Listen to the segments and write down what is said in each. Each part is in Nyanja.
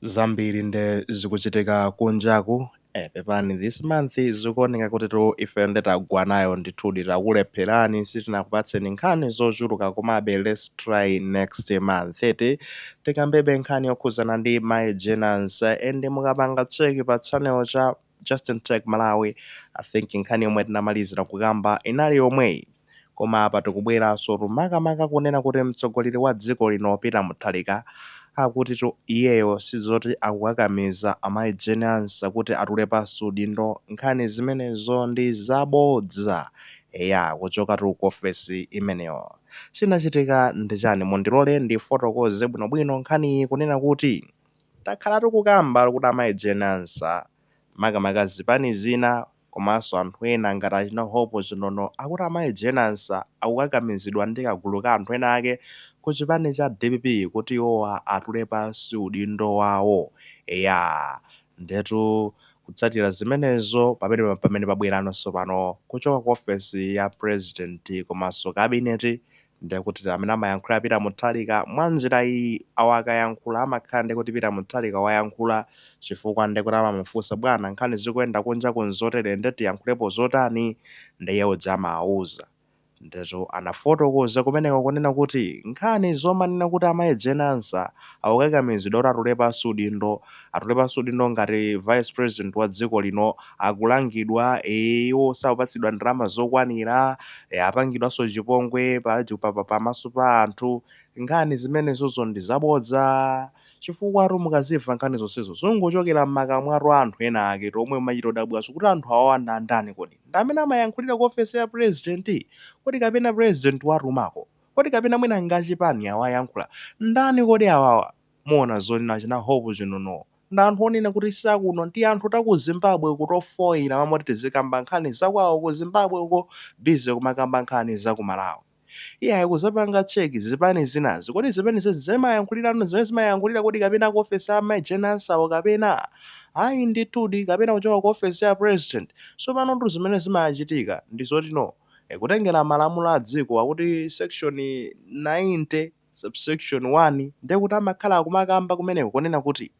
zambiri nde zikuchitika kunjaku eh, pepani this month zikuoneka kuti tu ife nde tagwa nayo ndithudi takulepherani sitinakupatseni nkhani zochuluka komabe let's try next month eti tikambebe nkhani yokhuzana ndi mayi Jane Ansah and mukapanga cheki pa channel cha Justin Tech Malawi I think nkhani yomwe tinamalizira kukamba inali yomweyi koma apa tikubweranso tu makamaka kunena kuti mtsogoleri wa dziko lino Peter Mutharika akuti tu iyeyo sizoti akukakamiza amayi Jane Ansah kuti atule pansi udindo nkhani zimenezo ndi zabodza eya kuchoka tu ku ofesi imeneyo chinachitika ndi chani mundilole ndifotokoze bwinobwino nkhaniyi kunena kuti Takhala tikukamba kuti amayi Jane Ansah makamaka zipani zina komanso anthu ena ngati achina Hope Chinono akuti amayi Jane Ansah akukakamizidwa ndi kagulu ka anthu ena ake ku chipani cha dpp kuti iwowa atule pansi udindo wawo. Eya, ndetu kutsatira zimenezo pamene pamene pabwerano tsopano kuchoka ku ofesi ya pulezidenti komanso kabineti Ndiye kuti amene amayankhulira Peter Mutharika mwa njira iyi, awa akayankhula amakhala ndiye kuti Peter Mutharika wayankhula chifukwa ndiye kuti amamufunsa bwana, nkhani zikuyenda kunjaku nzotere ndiye tiyankhulepo zotani? Ndiye iye uja amawauza. Ndiyetu anafotokoza kumeneko kunena kuti nkhani zomanena kuti amayi Jane Ansah akukakamizidwa kuti atule pansi udindo, atule pansi udindo ngati vice president wa dziko lino, akulangidwa ee iwo sakupatsidwa ndalama zokwanira e, apangidwanso chipongwe pa, pa, pa, pamaso pa anthu nkhani zimenezozo ndi zabodza chifukwatu mukazimva nkhani zonsezo zongochokera m'makamwatu a anthu ena ake omwe mumachita odabwaso kuti anthu awawa ndi andani kodi ndi amene amayankhulira ku ofesi ya president kodi kapena president watumako kodi kapena mwina ngachipani awayankhula ndani kodi awawa Muona zonena achina Hope Chinono ndi anthu onena kuti si akuno tianthu ta ku Zimbabwe uku tofoila m'malo moti tizikamba nkhani za kwao ku Zimbabwe uko busy kumakamba nkhani za ku Malawi iyayi kuzapanga check zipani zinazi kodi zipanizi zimayankhulira zimene zimayankhulira kodi kapena ku office a Mai Jane Ansah wo kapena ayi ndithudi kapena kuchoka ku office ya president sopanotu zimene zimachitika ndi zoti no kutengera malamulo a dziko akuti section 90 subsection 1, ndiye kuti amakhala akumakamba kumeneko kunena kuti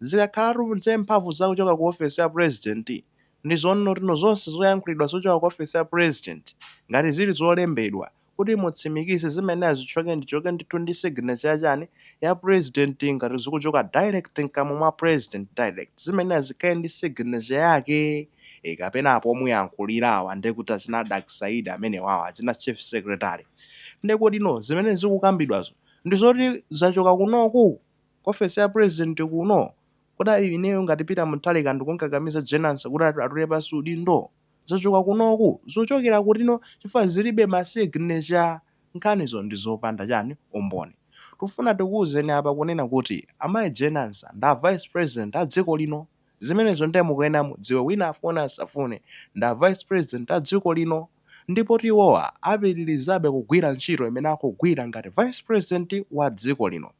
zikakhalatu za mphamvu za kuchoka ku ofesi ya President ndi zonena kuti no zonse zoyankhulidwa zochoka ku ofesi ya President ngati zili zolembedwa kuti mutsimikize zimayenera zichoke ndichoke ndithu ndi signature ya chani ya President ngati zikuchoka direct mkamwa mwa President direct zimayenera zikhale ndi signature yake e kapena apo omuyankhulira awa ndiye kuti achina Dr Saidi amenewawa achina Chief Secretary Nde kodi no zimene zikukambidwazo ndizoti zachoka kunoku? Ku ofesi ya president kuno? Kodi ineyo ngati Peter Mutharika ndikunkakamiza Jane Ansah kuti atule pansi udindo? Zachoka kunoku? Zikuchokera kuti no chifukwa zilibe ma signature? Nkhanizo ndizopanda chani? Umboni. Tikufuna tikuuzeni apa kunena kuti amayi Jane Ansah nda vice president a dziko lino. Zimenezo ndiye mukuyenera mudziwe wina afune asafune ndi a vice president a dziko lino ndipotu iwowa apitilizabe kugwira ntchito imene akugwira ngati vice president wa dziko lino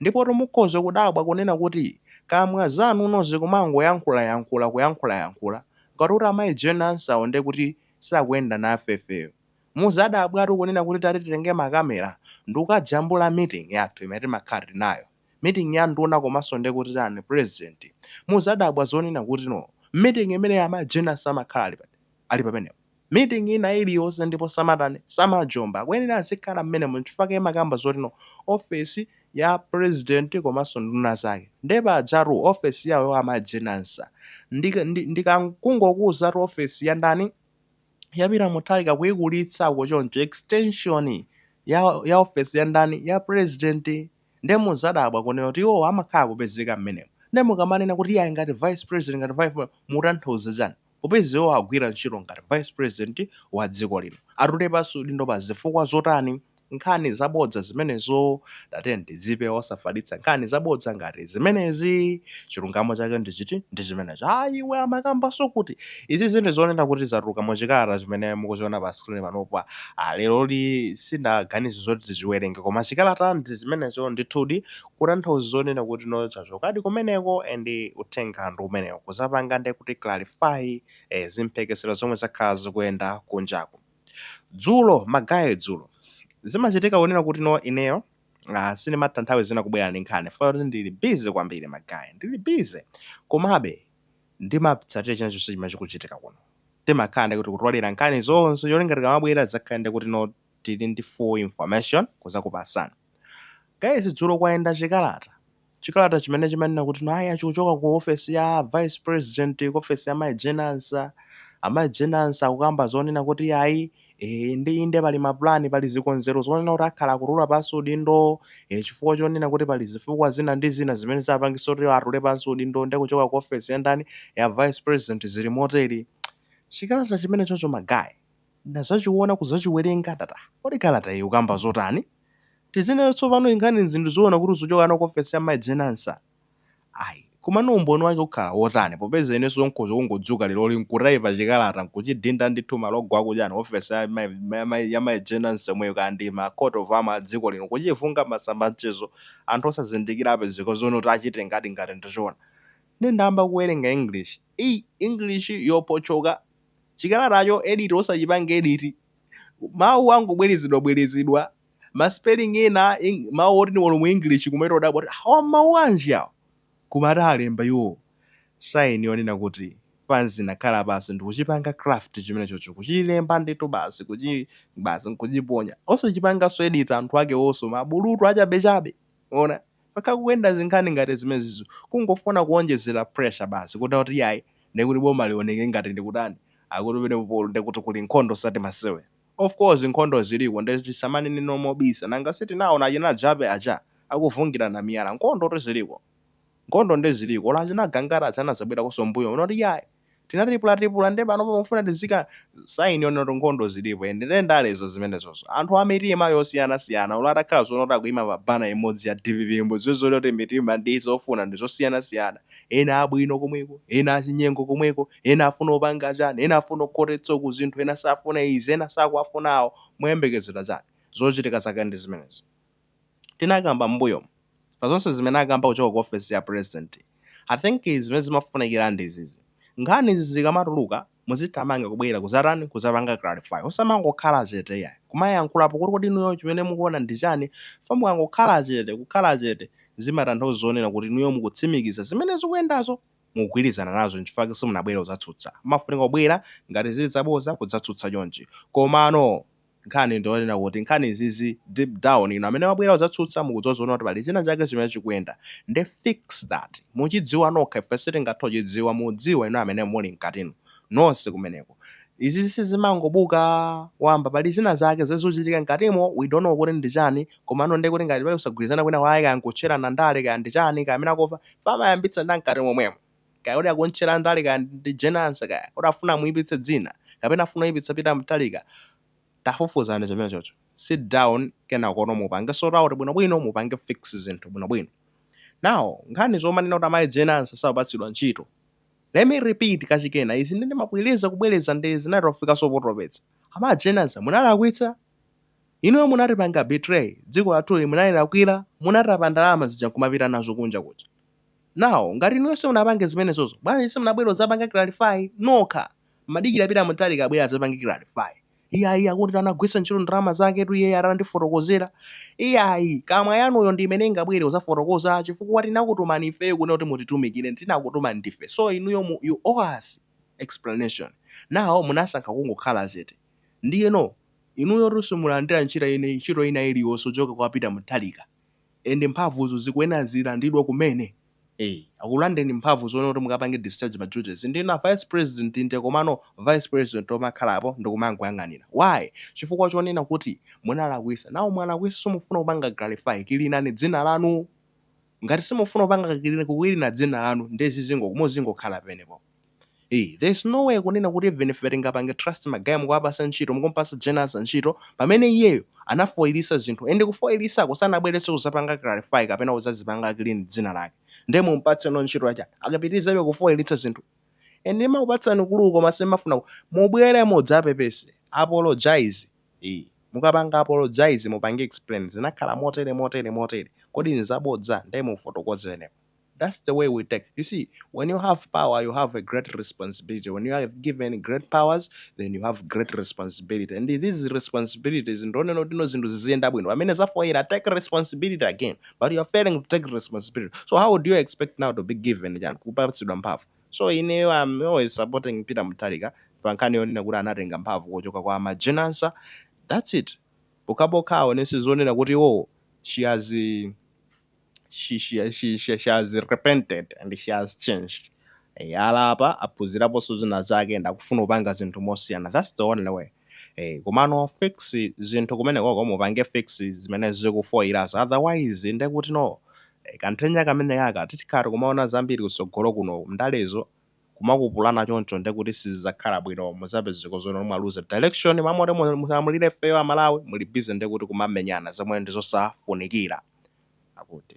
ndipotu mukhoza kudabwa kunena kuti kamwa zanu no zikumangoyankhulayankhula kuyankhulayankhula ngati kuti amayi Jane Ansah-wo ndiye kuti sakuyenda nafe ifeyo. Muzadabwatu kunena kuti tati titenge ma camera ndikukajambula meeting yathu imene timakhala tili nayo. meeting ya nduna komanso nde kuti chani president muzadabwa zonena kuti no meeting imene amayi Jane Ansah amakhala ali pa ali pamenepo meeting ina iliyonse ndipo samatani samajomba akuyenera azikhala mmenemo nchifukwa chake timakamba zoti no office ya president komanso nduna zake nde pajatu office yawo amayi Jane Ansah ndi ndi, ndi ka, kungokuzatu office ya ndani ya Peter Mutharika kuikulitsako choncho extension ya ya office ya ndani ya president Ndiye mudzadabwa kunena kuti iwowo amakhala akupezeka mmenemo. Ndiye mukamanena kuti iyayi ngati vice president ngati vice pre. mutanthauza chani? Popeza iwowo akugwira ntchito ngati vice president wa dziko lino. Atule pansi udindo pa zifukwa zotani? Nkhani zabodza zimenezo. Tatiyeni tidzipewe osafalitsa nkhani zabodza ngati zimenezi. Chilungamo chake ndi chiti? Ndi chimenecho. Aaa iwe amakambanso kuti. Izi zinthu zonena kuti zatuluka mu chikalata chimene mukuchiona pa screen panopa. Ah, leroli sindaganize zoti tichiwerenge koma chikalata ndi chimenecho ndithudi kutanthauza zonena kuti no chachokadi kumeneko and uthenga ndi umenewo kuzapanga nde kuti clarify eh, zimphekesera zomwe zakhala zikuyenda kunjaku. Dzulo magaye dzulo zimachitika kunena kuti no ineyo ah, sindimatha nthawi zina kubwera ndi nkhani poona kuti ndili busy kwambiri magaye ndili busy komabe ndimatsatira china chonse chimene chikuchitika kuno. Timakhala ndekuti kutolera nkhani zonse cholinga tikamabwera tizakhale ndekuti no tili ndi full information kuzakupasani. Guys dzulo kwayenda chikalata. Chikalata chimene chimanena kuti no ayi chikuchoka ku office ya vice president ku office ya Mai Jane Ansah. Amai Jane Ansah akukamba zonena kuti ayi Eee inde inde pali ma plan pali zikonzero zonena kuti akhala akutula pansi udindo ee chifukwa chonena kuti pali zifukwa zina ndi zina zimene zapangitsa kuti atule pansi udindo nde kuchoka ku ofesi ya ndani ya vice president zili motere chikalata chimenechocho ma guy ndazachiona kuzachiwerenga ndati ah kodi kalata iyi ikukamba zotani tizinena tsopano inkhani zinthu zoona kuti uzichoka nako ku ofesi ya mayi Jane Ansah Ayi, komano umboni wake ukhala wotani, popeza inenso nkhoza kungodzuka leroli nkutaipa chikalata nkuchidinda ndithu malogo akuchani ofesi ya ma ya mayi Jane Ansah yomweyo kaya ndi ma coat of arms a dziko lino kuchivunga m'masamba anchezo anthu osazindikira apezeka zonena kuti achitengadi ngati ndi choona nde ndayamba kuwerenga English ii English yophotchoka chikalatacho edit osachipanga edit mawu angobwerezedwabwerezedwa ma spelling ena, mawu oti ndi olo mu english kumachita kudabwa kuti awa mawu anji awa koma ati alemba iwo saini yonena kuti pansi nakhala pansi ndikuchipanga craft chimene chocho kuchilemba ndithu basi kuchi basi nkuchiponya osachipanganso edit anthu ake wonso mabulutu achabechabe ona paka kuyenda zinkhani ngati zimenezizo kungofuna kuonjezera pressure basi kuti kuti yayi ndikuti boma lioneke ngati ndikutani akuti pene polo ndikuti kuli nkhondo sati masewera Of course nkhondo ziliko nde tisamanenenso mobisa nanga sitinaona achina Jappie aja akuvungilana miyala nkondotu ziliko nkhondo nde ziliko olo achina Gangata aja anazabwelakonso mbuyo muno kuti ayi tinatipulatipula nde panopa mukufuna tiziika sign yonena kuti nkhondo zilipo and nde ndalezo zimenezozo anthu amitima yosiyana siyana olo atakhala zonena kuti akuima pa banner imodzi ya dpp mudziwe zoti mitima ndi zofuna ndizosiyana siyana ena abwino komweko ena achinyengo komweko ena afuna opanga chani, ena afuna okhotetsa uku zinthu, ena safuna izi, ena sakuwafuna awo, muyembekezera chani? Zochitika zake ndi zimenezo. Tinakamba m'mbuyomu, pa zonse zimene akamba kuchoka ku ofesi ya president, i think zimene zimafunikira ndi izizi, nkhani izi zikamatuluka, muzithamanga kubwera kudzatani, kudzapanga clarify, osamangokhala chete iyayi, kumayankhulapo kuti kodi inuyo chimene mukuona ndi chani, chifukwa mukangokhala chete, kukhala chete zimatanthauza zonena kuti inuyo mukutsimikiza zimene zikuyendazo. mukugwirizana nazo nchifukwa chake simunabwere kuzatsutsa mmafunika kubwera ngati zili zaboza kudzatsutsa chonchi komano nkhani ndiyonena kuti nkhani izizi deep down inu amene mwabwera kuzatsutsa mukudziwa zonena kuti pali china chake chimene chikuyenda nde fix that muchidziwa nokha ife sitingathe kuchidziwa mudziwa inu amene muli mkatinu nonse kumeneko izizi sizimangobuka wamba pali zina zake zimene zikuchitika mkatimo we don't know kuti ndi chani komano ndekuti ngati pali kusagwirizana kwina kwake kaya nkutcherana ndale kaya ndi chani kaya amene akufa Amayambitsa ndi amkati momwemo. Kaya kuti akumtchera ndale kaya ndi Jane Ansah kaya kuti afuna amuipitse dzina kapena afuna kuipitsa Peter Mutharika tafufuzani chimenechocho. Sit down kenakono mupange sort out bwinobwino mupange fix zinthu bwinobwino. Now nkhani zomanena kuti amayi Jane Ansah sakupatsidwa ntchito. Let me repeat kachikena izi nde ndimabwereza kubwereza nde zinatofikaso potopetsa. Amayi Jane Ansah munalakwitsa. Inuyo munatipanga betray dziko lathuli, munalilakwila munatapa ndalama zija nkumapita nazo kunja kuja now ngati inuyo simunapange zimenezozo bwanji simunabwere kudzapanga clarify nokha mmadikira Peter Mutharika abwere adzapange clarify iyayi akuti anagwiritsa ntchito ndalama zaketu iyeyo, atandifotokozera iyayi kamwa yanuyo, ndi imene ingabwere kudzafotokoza chifukwa tinakutumani ifeyo kunena kuti mutitumikire tinakutumani ndife so inuyo mu you owe us explanation now munasankha kungokhala zete Ndiyeno, inuyotu simulandira ntchito ina ntchito ina iliyonse kuchoka kwa Peter Mutharika and mphamvuzo zikuyenera zilandidwe kumene ee akulandeni mphamvu zoona kuti mukapange discharge ma duties ndinu a vice president inde komano vice president omakhalapo ndikumangoyang'anira why chifukwa chonena kuti munalakwisa now mwalakwisa simufuna kupanga clarify cleanani dzina lanu ngati simufuna kupanga kukilina kukilina dzina lanu nde zizingo muzingokhala penepo ii there is no way kunena kuti even ife tingapange trust magaya mukuwapasa ntchito mukumpasa Jane Ansah ntchito pamene iyeyo anafoilisa zinthu and kufoilisako sanabwelenso kuzapanga clarify kapena kuzazipanga clean dzina lake nde mumpatseno ntchito yachani akapitilizebe kufoilitsa zinthu and ndimakupatsani clue koma simafuna mubwere mudzapepese apologize ii. Mukapanga apologize mupange explain zinakhala motere motere motere kodi nzabodza nde mufotokozeno thats the way we take you see when you have power you have a great responsibility when you are given great powers then you have great responsibility and these responsibilities ndionena kuti no zinthu ziziyenda bwino pamene zafoyila take responsibility again but you are failing to take responsibility so how do you expect now to be given chani kupatsidwa mphamvu So ineyo am always supporting Peter Mutharika pa nkhani yonena kuti anatenga mphamvu kuchoka kwa mai Jane Ansah that's it pokhapokha aonese zonena kuti iwowo she has she, she, she, she, she has repented and she has changed Eh, alapa aphunziraponso zina zake and akufuna kupanga zinthu mosiyana that's the only way Eh, komano fix zinthu kumenekoko mupange fix zimene zikufoyirazo otherwise nde kuti no eh, kanthena kamene kaka titikhala kumaona zambiri kutsogolo kuno ndalezo kumakhapulana choncho nde kuti sizidzakhala bwino muzapezeka zona mwaluza direction m'mamoti mu- mulamulire ifeyo aMalawi muli busy nde kuti kumamenyana zomwe ndi zosafunikira akuti